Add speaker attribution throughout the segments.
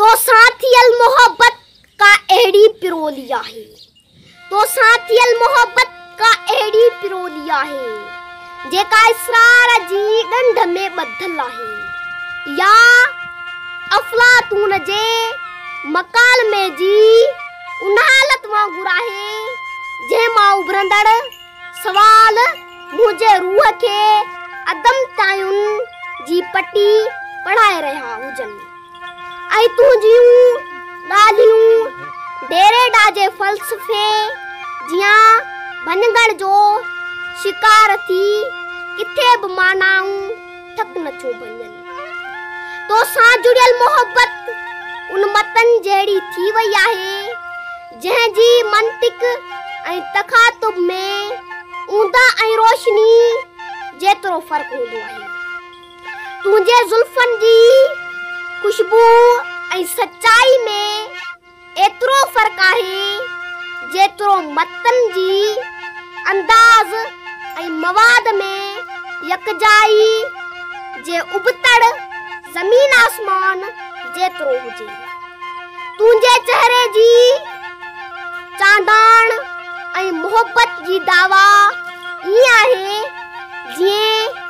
Speaker 1: توسان ٿيل محبت ڪا اهڙي پرولي آهي توسان ٿيل محبت ڪا اهڙي پرولي آهي جيڪا اسرار جي ڏنڊ ۾ ٻڌل آهي يا افلاطون جي مڪالمي جي ان حالت وانگر آهي جنهن مان اڀرندڙ سوال، منهنجي روح کي عدم تعين جي پٽي پڙهائي رهيا هجن ۽ تنهنجيون ڳالهيون ڊيريڊا جي فلسفي جيان ڀڃڳڻ جو شڪار ٿي ڪٿي به معنائون ٿڪ نه ٿيون ڀڃن. توسان جڙيل محبت ان متن جهڙي ٿي وئي آهي جنهن جي منطق ۽ تخاطب ۾ اوندا ۽ روشني جيترو فرق هوندو آهي تنهنجي زلفن جي خوشبو ۽ سچائي ۾ ايترو فرق آهي جيترو متن جي انداز ۽ مواد ۾ يڪجائي جي ابتڙ زمين آسمان جيترو هجي تنهنجي چهري جي چانڊاڻ ۽ محبت جي دعويٰ ائين آهي جيئن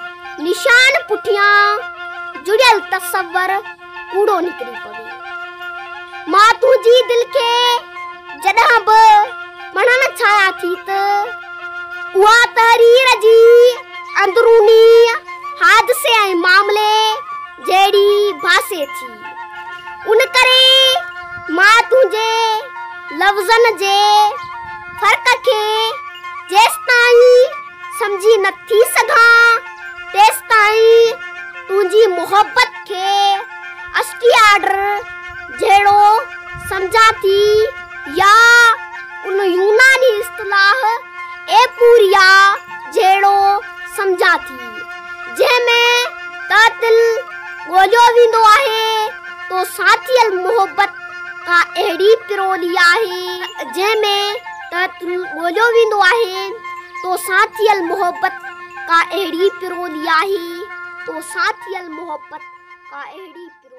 Speaker 1: نشان پٺيان جڙيل تصور ڪوڙو نڪري پوي مان تنهنجي دل کي جڏهن به مڙهڻ ڇايا ٿي ته اها تحرير جي اندروني حادثي ۽ معاملي جهڙي ڀاسي ٿي ان ڪري مان تنهنجي لفظن جي فرق کي جيستائين سمجهي نه ٿي سگهان تيستائين تنهنجي محبت کي اشڪي آرڊر جهڙو سمجهان ٿي يا ان يوناني اصطلاح ايپوريا جهڙو سمجهان ٿي جنهن ۾ قاتل ڳوليو ويندو آهي تو ساٿيل محبت ڪا اهڙي پرولي آهي جنهن ۾ ته تون ڳوليو ويندو آهين، تو سان ٿيل محبت ڪا اهڙي پرولي آهي، تو سان ٿيل محبت ڪا اهڙي پرولي.